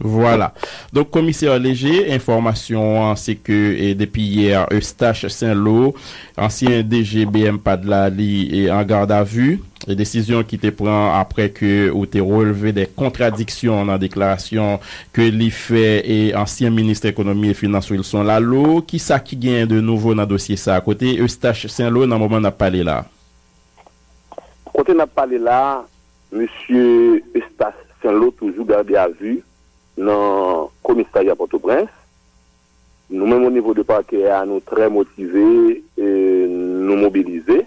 Vwala. Donk komisè Léger, enfòmasyon an se ke depi yè Eustache Saint-Lô, ansyen DG BMPAD la li an gardavu, desizyon ki te pran aprè ke ou te relve de kontradiksyon nan deklarasyon ke li fè e ansyen minis ekonomi e finans Wilson Laleau. Kisa ki genyen de nouvo nan dosye sa? Kote Eustache Saint-Lô nan moman n ap pale la? Kote n ap pale la, Mesye Eustace Saint-Lô toujou gade a vu nan komisarya Pòtoprens. Nou menm o nivo de pakè a nou trè motive e nou mobilize.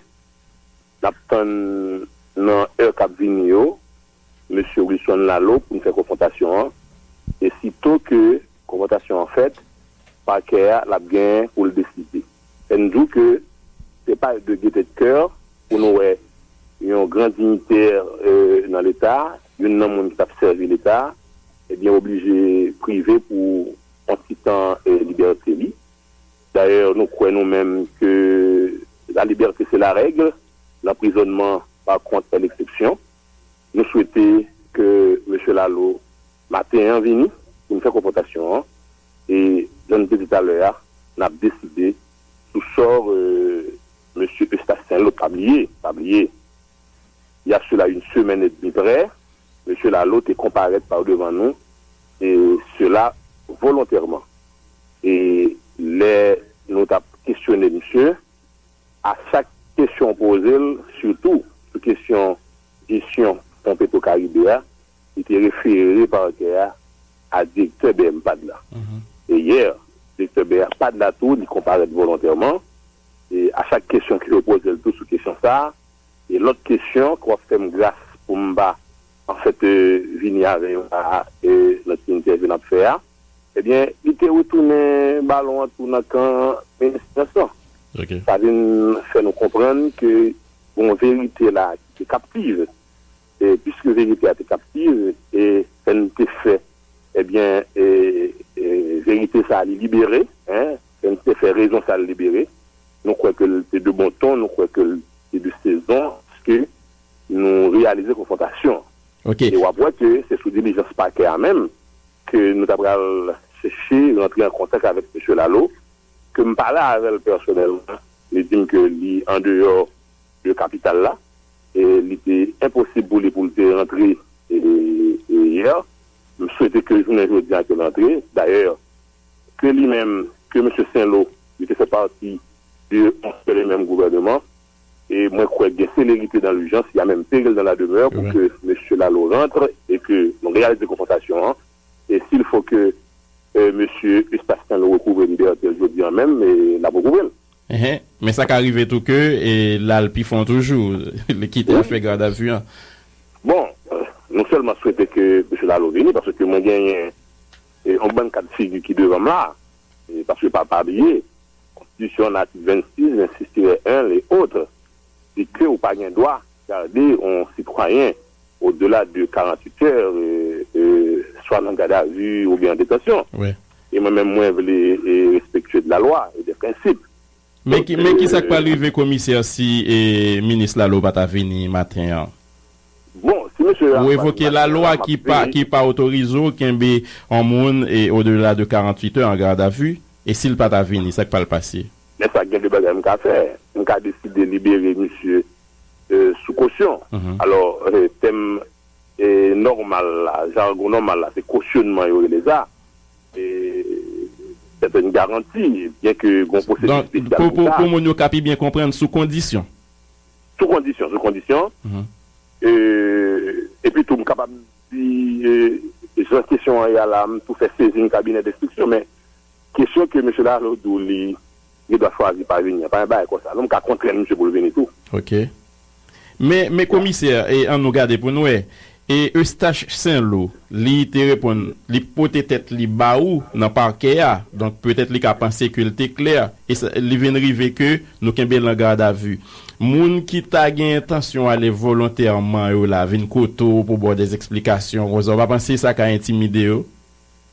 N ap tann nan è k ap vini yo mesye Wilson Laleau pou n fè konfwontasyon an e sito ke konfwontasyon an fèt pakè a l ap gen pou l deside. Fè n di ke se pa de gete de kè pou nou wè yon gran dinytè nan leta, youn nan moun ki t ap sèvi leta, ebyen oblije prive pou yon ti tan libète li. Dayè nou kwè nou menm ke la libète se la règ, lanprizònman pa kont è leksepsyon. Nou swete ke Mesye Laleau maten an vini pou n fè konfwontasyon an. E jan nou te di talè a, n ap deside sou sò mesye Eustache Saint-Lô. Pa bliye, pa bliye, il y a cela une semaine et demie prè, mesye Laleau te konparèt pa devan nou, e sela volontèman. E lè nou t ap kesyone misye, a chak kesyon w poze l, sitou sou kesyon jesyon fon Petro Caribe a, Li te refere pakè a a direktè BMPADH la. Dayè, direktè BMPADH la tou, li konparèt volontèman e a chak kesyon ke yo poze l tou sou kesyon sa a e lòt kesyon ke w ap fè m gras pou m pa an fèt vini avè yo la a nan ti entèvyou n ap fè a, ebyen li te retounen balon an tou nan kan Minis Finans lan. Sa vin fè nou konprann ke gen yon verite la a ki te kaptive. E piske verite a te kaptiv e fè n te fè ebyen e verite sa a li libere e fè n te fè rezon sa a l libere, nou kwè ke l te de bon ton, nou kwè ke l te de sezon, piske nou reyalize konfwontasyon an. E w ap wè ke se sou dilijans pakè a menm ke nou ta pral chèche rantre an kontak avèk Mesye Lalo, ke m pale avè l pèsonèlman, li di m ke li andeyò. de kapital la, li te enposib pou li pou l te rantre yè, m swete ke jounen jodi a ke l rantre, dayè ke li menm, ke mesye Senlo, li te fè pati de yon sèl e menm gouvèneman, e mwen kwè gen selerite dan lijans, ya menm peril dan la demè pou ke mesye Lalo rantre e ke nou reyalize konfwontasyon an, e si l fo ke mesye Eustache Senlo rekouvre libète l jodi a menm, l ap rekouvre l. Ehe men sa ka rive tou ke l al pi fon toujou, li kite afè gradavu an. Bon nou sèlman swete ke Mesye Lalo vini paske mwen genyen yon bann kad figi ki devan m la paske pa pa bliye konstitisyon an atik 26, 26 tirè 1 le autres. e ke ou pa gen dwa garde on sitwayen au delà de 48 heures swa nan garde à vue ou byen an detansyon. E mwen menm mwen vle respectueux de la loi et des principes. Men ki sa k pral rive komisè si minis Laleau pa ta vini maten an? Bon, si mesye Laleau pa vini maten an. Ou evoke la lwa ki pa otorize ou kenbe on moun au delà de 48 heures en garde à vue e si l pa ta vini sa k pral pase? Men sa gen 2 bagay m ka fè, m ka deside libere misye sou kosyon. Alò tèm nòmal la, jargon nòmal la se kosyonman yo rele sa. E sètèn garanti byen ke gon pwosedi spesyal pou sa. Pou moun yo ka pi byen konprann sou kondisyon. Sou kondisyon, sou kondisyon. E pi tou m kapab di jan kesyon an ye a la, m tou fè sezin kabinè denstriksyon men. Kesyon ke Mesye Lalo di w li gen dwa chwazi pa vini an, pa gen bagay konsa non, m ka kontrenn misye pou l vini tou. Ok. Men, men komisè, e an nou gade pou n wè, e Eustache Sainlou, li te reponn, li pote tèt li ba ou nan pakè a, donk petèt li ka panse ke l te klè, e sa, li vin rive ke nou kenbe l an gadavi. Moun ki ta gen entansyon ale volontèman yo la vin kote w pou ba w dè zesplikasyon konsa, ou pa panse sa ka entimide yo?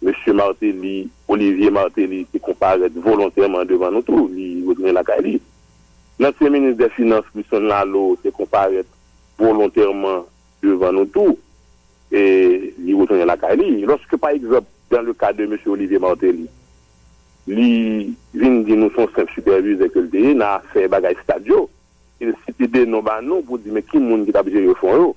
Mesye Martelly, Olivier Martelly, te konparèt volontèman devan nou tou, li retounen lakay li. Lansyen minis dè finans Christian Lalo te konparèt volontèman devan nou tou, e li retounen lakay li. Lòske pa egzanp dan le ka de mesye Olivier Martelly, li vin di nou se yon senp sipèvizè ke l te ye nan afè bagay stad yo, e l site de non ba nou pou di men ki moun ki t ap jere fon yo.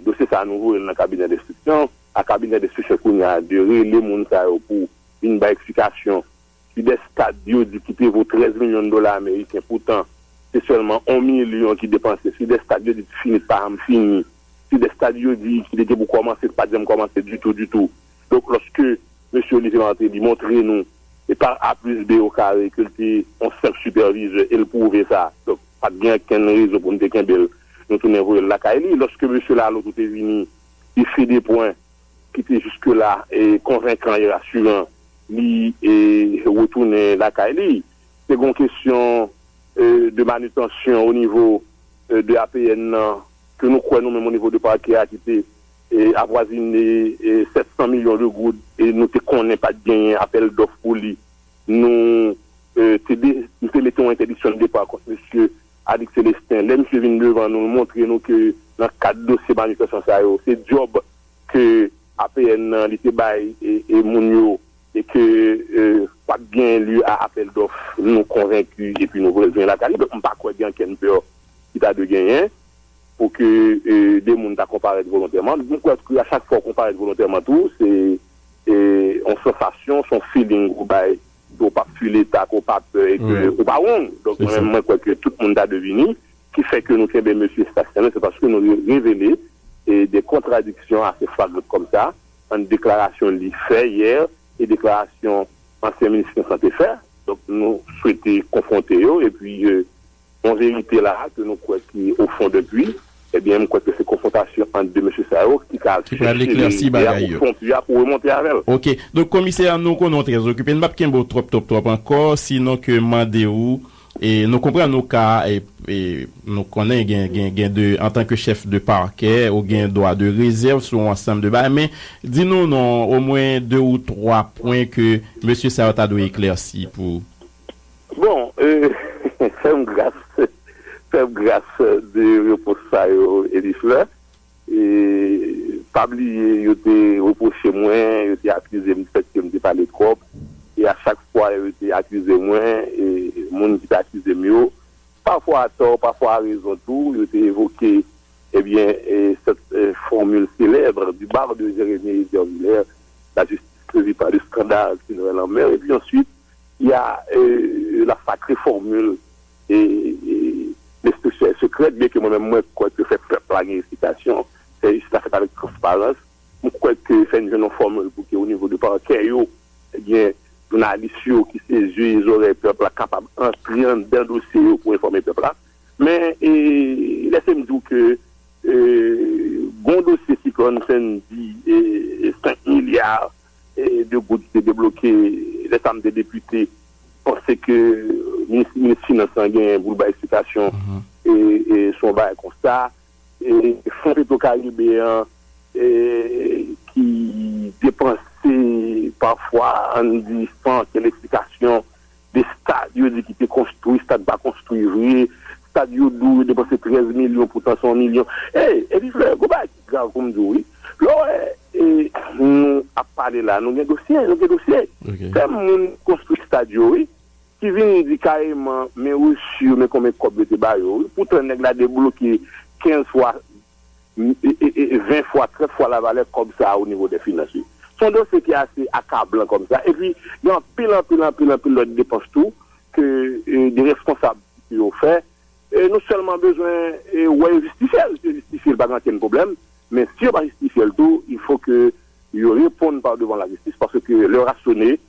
Dosye sa a nou voye l nan kabinè denstriksyon a kabinè denstriksyon kounye a de rele moun sa yo pou vin bay eksplikasyon si des kad yo di ki te vo 13 milyon dola ameriken poutan se sèlman 1 milyon ki depanse si des kad yo di ki fini pa janm fini si des kad yo di ki te gen pou kòmanse ki pa t janm kòmanse ditou ditou donk lòske mesye Olivier Martelly montre nou e pa a plis be o kare ke l te yon senp sipèvizè e l pwouve sa donk pa t gen okenn rezon pou nou te kenbe l. Nou tounen voye l lakay li. Lòske mesye Laloto te vini, li sede pwen ki te jiskela konvenkan e rasiran, li retounen lakay li. Te gen yon kesyon de manitansyon onivo de APN nan ke nou kwè nou menm onivo de pakè a ki te avwazine 700 milyon de goud e nou te konnen pa t genyen apèl dòf pou li. Nou te mete yon entèdiksyon de depa kont mesye Adik Celestin, lè misye vin devan nou, l montre nou ke nan kad dosye manifestan sa yo, se djòb ke APN nan li te bay e moun yo e ke pa t gen lye a apèl dòf, nou konvenki epi nou retounen lakay nou. Donk m pa kwè gen ankenn pè ki ta dwe genyen pou ke de moun ta konparèt volontèman. M kwè tou ke a chak fwa ou konparèt volontèman tou, se yon sansasyon, se yon feeling ou bay ke w pap twi leta, ke w pa pè e ke ou pa wong. Donk mwen menm mwen kwè ke tout moun ta devini ki fè ke nou kenbe mesye Sébastien la se paske nou revele de kontradiksyon ase flagrant kòm sa ant deklarasyon li fè yè e deklarasyon ansyen minis Constant te fè. Donk nou swete konfwonte yo e pi Yon verite la a ke nou kwè ki o fon de pui, ebyen m kwè ke se konfwontasyon ant 2 mesye sa yo ki ka Ki pral chèche eklèsi verite a bagay o yo. fon pui a pou remonte avè l. Ok. Donk komisè nou konnen w trè okipe, n pap kenbe w twòp twòp twòp ankò, sinon ke m mande ou, e nou konprann ou ka, e nou konnen gen gen gen de antan ke chèf de parkè ou gen dwa de rezèv sou yon ansanm de bagay, men di nou non omwen 2 ou 3 pwen ke mesye sa yo ta dwe eklèsi pou. Bon, fè m gras, fè m gras de repons sa yo Elie Fleur. Pa bliye yo te repwoche mwen, yo te akize m di fèt ke m te pale twòp. E a chak fwa yo te akize mwen, moun ki te akize m yo, pafwa a tò, pafwa a rezon tou, yo te evoke ebyen sèt fòmil selèb, du barreau de Jérémie Hésier Villers, la justice ne rit pas de scandale, s'il règne en mer, epi answit, Ya l ap sakre fòmil e lespri sekrè, byenke mwen menm mwen kwè ke fè pèp la gen esplikasyon, fè jistis la fèt avèk transparans. M kwè ke fè n jwenn yon fòmil pou ke onivo de pakè yo, ebyen jounalis yo ki se zye e zòrèy pèp la kapab antre anndan dosye yo pou enfòme pèp la. Men lèse m di w ke gen yon dosye siklòn Sendy 5 milya, 2 goud ki te debloke lè sa m te depite panse ke minis finans lan genyen pou l bay eksplikasyon sou yon bagay konsa. Fon petro karibe an ki depanse pafwa an di san okenn eksplikasyon 2 stad yo di ki te konstwi, stad pa konstwi vre, stad yo di w yo depanse 13 milyon poutan se yon milyon. Ey! Epi Flè, gon bagay ki grav pou m di w wi. Lè w wè nou ap pale la, nou gen dosye, nou gen dosye. Se moun ki konstwi stad yo wi, ki vin di kareman men resu yo, men konben kòb yo te ba yo wi. Poutan nèg la debloke 15 fwa 20 fwa, 30 fwa lavalè kòb sa a o nivo dè finans li. Se yon dosye ki ase akablan kòm sa. Epi, gen anpil, anpil, anpil, anpil lòt depans tou ke de responsab yo fè. Nou sèlman bezwen wè yo jistifye l. Si yo jistifye l, pa gen okenn pwoblèm. Men, si yo pa jistifye l tou, il fo ke yo reponn pa devan lajistis paske lè yo rasyone,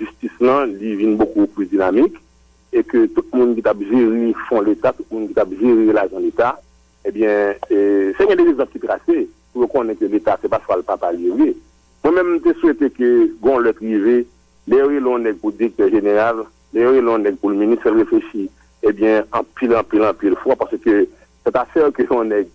jistis lan li vin bokou plis dinamik e ke tout moun ki tap jere fon leta, tout moun ki tap jere lajan leta ebyen fè gen de rezèv ki trase pou yo konnen ke leta se pa chwal papa li ye vre. Mwen menm m te swete ke gon lè k rive lè yo rele yon nèg pou direktè jeneral, lè yo rele yon nèg pou l minis fè l reflechi ebyen anpil anpil anpil fwa paske sèt afè ke yon nèg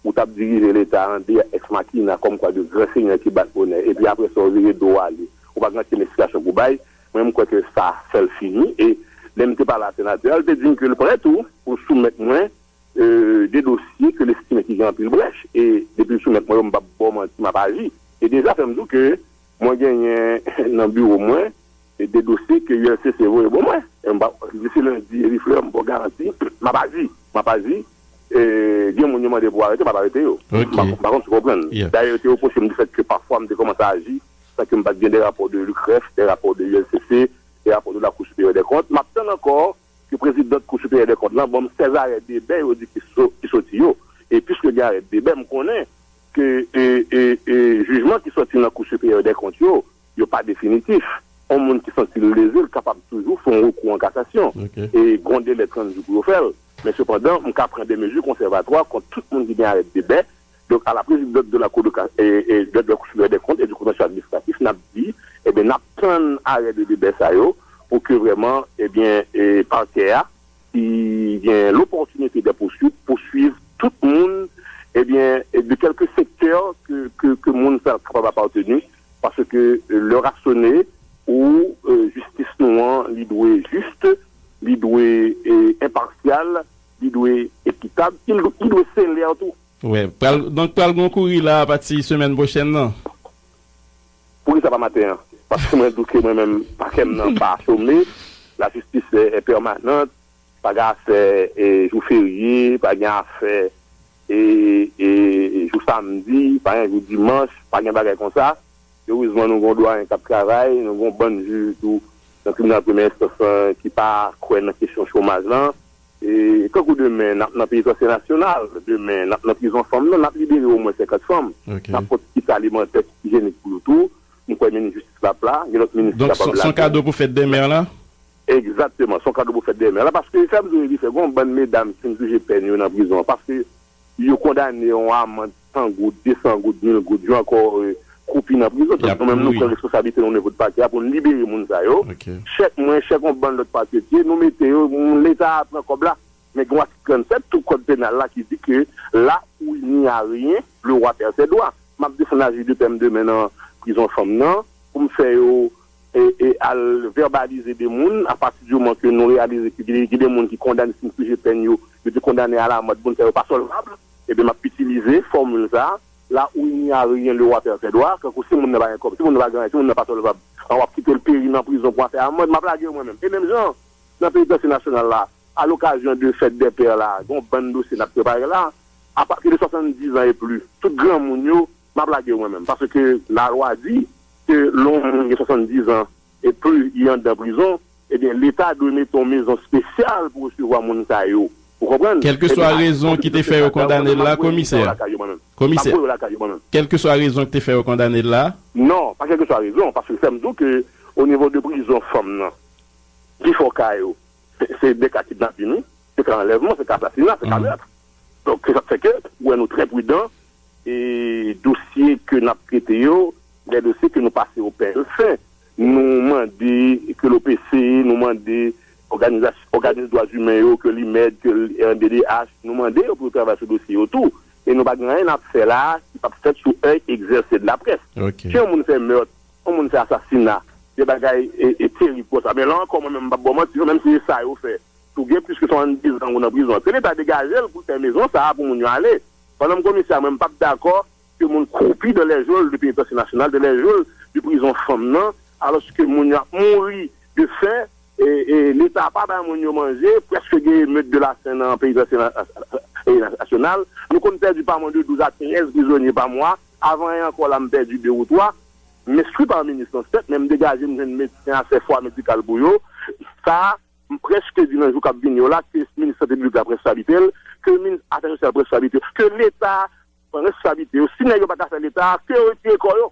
Ou t ap dirije Leta an de ex machina kòm kwa de gran senyè ki bat bonè epi apre sa ou vire do w ale. Ou pa gen ankenn esplikasyon pou w bay. Mwen m kwè ke sa fè l fini. E lè m te pale a Senatè a, l te di m ke l prè tou pou l soumèt mwen de dosye ke l estime ki gen anpil brèch. E depi l soumèt mwen yo, m p ap ba w manti, m ap aji. E deja fè m di w ke mwen genyen nan biwo mwen de dosye ke ULCC voye bo mwen. Disi lendi, Herifleur, m ba w garanti, m ap aji. M ap aji. Gen moun yo mande pou arete, m ap arete yo. M pa konn si w konprann. Dayè yo te repwoche m di fèt ke pafwa m te kòmanse aji san ke m pa t gen de rapò de Lukref, de rapò de ULCC, de rapò de Lakou Siperyè dè Kont. M ap tann ankò ke prezidant Kou Siperyè dè Kont lan ban m 16 arè debè yo di ki soti yo. E piske gen arè debè, m konnen ke jijman ki soti nan Kou Siperyè dè Kont yo, Yo pa definitif. On moun ki santi l leze l kapab toujou fè on rekou an kasasyon e gen on delè 30 jou pou yo fè l. Men sepandan, m ka pran de mezi konsèvatwa kont tout moun ki gen arèt de bè. Donk, a la prezidant de la Cour de cass e de la Cour supérieure des comptes et du contentieux administratif, n ap di, ebyen, n ap tann arè de debè sa yo pou ke vrèman, ebyen, Pakè a ki gen lopòtinite dè pousuit pousuiv tout moun, ebyen, de kèlke sektè ke moun sa kapab apateni. Paske lè a sone pou jistis nou an li dwe jis, li dwe enpasyal, li dwe ekitab, li dwe selè tou. Wè, pral donk pral gon kouri la apati semèn pwochèn nan. Poukisa pa maten an? Paske mwen di w ke mwen menm pakè m nan pa chome, lajistis è pèmanant, Pa gen afè jou ferye, pa gen afè jou samdi, pa gen jou dimanch, pa gen bagay konsa. Erezman nou gen yon dwayen k ap travay, nou gen yon bann jij tou nan tribinal premyè enstans lan ki pa kwè nan kesyon chomaj lan. Tankou demen n ap nan penitansye nasyonal, demen n ap nan prizon fanm nan, n ap libere omwen 50 fanm, n ap pot kit alimantè, kit ijenik pou yo tou. M kwè minis jistis la ap la, gen lòt minis ki kapab la tou. Donk se yon kado pou fèt demen an la? Egzakteman, son kado pou fèt demen la paske e sèm di w epi fè gon bann medam ki fin pije pèn yo nan prizon an paske yo kondane yon amand 100 goud, 200 goud, 1000 goud yo ankò kroupi nan prizon donk nou menm nou pran responsablite nou nivo de pakè a pou n libere moun sa yo chèk mwen chèk yon bann lòt paketye nou mete yo moun leta a pran kòb la men gen yon atik 37 tou kòd penal la ki di ke la fouy ni a ryen le roi perd ses droits m ap defann aji de pè m demen nan prizon fanm nan pou m fè yo e al vèbalize de moun a pati di moman ke nou reyalize ke gen de moun ki kondane si n fije pèn yo, yo te kondane a la mòd, moun sa yo pa sòlvab, ebyen m ap itilize fòmil sa a, là où il n'y a rien le roi perd ses droits, tankou si moun nan pa gen kòb, si moun nan pa gen anyen, si moun nan pa sòlvab, an w ap kite l peri nan prizon pou afè amand, m ap lage yo mwen menm. E menm jan an, nan penitansye nasyonal la, a l'occasion de fête des pères la, gen yon bann dosye n ap prepare la, a pati de 70 ans et plus, tout granmoun yo, Map lagew mwen menm paske ke la lwa di ke lè yon moun gen 70 ans et plus li andan prizon ebyen leta dwe mete yon mezon spesyal pou resevwa moun sa yo ou konprann Kelkeswa ebyen rezon ki te fè yo kondanel la komisè komisè kelkeswa rezon ki te fè yo kondanel la. Non pa kelkeswa rezon paske fèm diw ke o nivo de prizon fanm nan pi fò ka yo se de ka kidnapin wi se ka anlèvman se ka asasina se ka meurtre donk se sak fè ke ou wè nou trè pridan E dosye ke n ap trete yo, lè dosye ke nou pase o pèl fen, nou mande ke l'OPC, nou mande òganizas, òganis dwa zimen yo, ke l'IMED, ke rnddh, nou mande yo pou yo travay sou dosye yo tou. E nou pa gen anyen n ap fè la a ki pap fèt sou èy egzèse de la près. Si yon moun fè meurt, yon moun fè asasina, de bagay terib konsa, men la ankò mwen menm m pap ba w manti non, menm si se sa yo fè, tou gen plis ke 72 zan ou nan prizon, ke leta degaje l pou l fè mezon sa a pou moun yo ale. Pandan m konnen sa mwen m pap dakò ke moun kwoupi dan lè jol de penitansye nasyonal, dan lè jol de prizon fanm nan, alòske moun yo ap mouri de fen, leta pa bay moun yo manje, prèske gen emeut de la fen nan penitansye nasyonal. Nou konn pèdi pa mwen de 12 a 13 prizonye pa mwa, avan yè ankò la m pèdi 2 ou 3. M enskri pa minis lan sèt, men m degaje m jwenn medsen a fè fwa medikal pou yo. Sa. M prèske di nan jou k ap vini yo la ke minis sante piblik la pran responsablite l, ke minis afè sosyal pran responsablite yo, ke leta pran responsablite yo. Si nèg yo pa ka fè leta a, ke yo retire kò yo.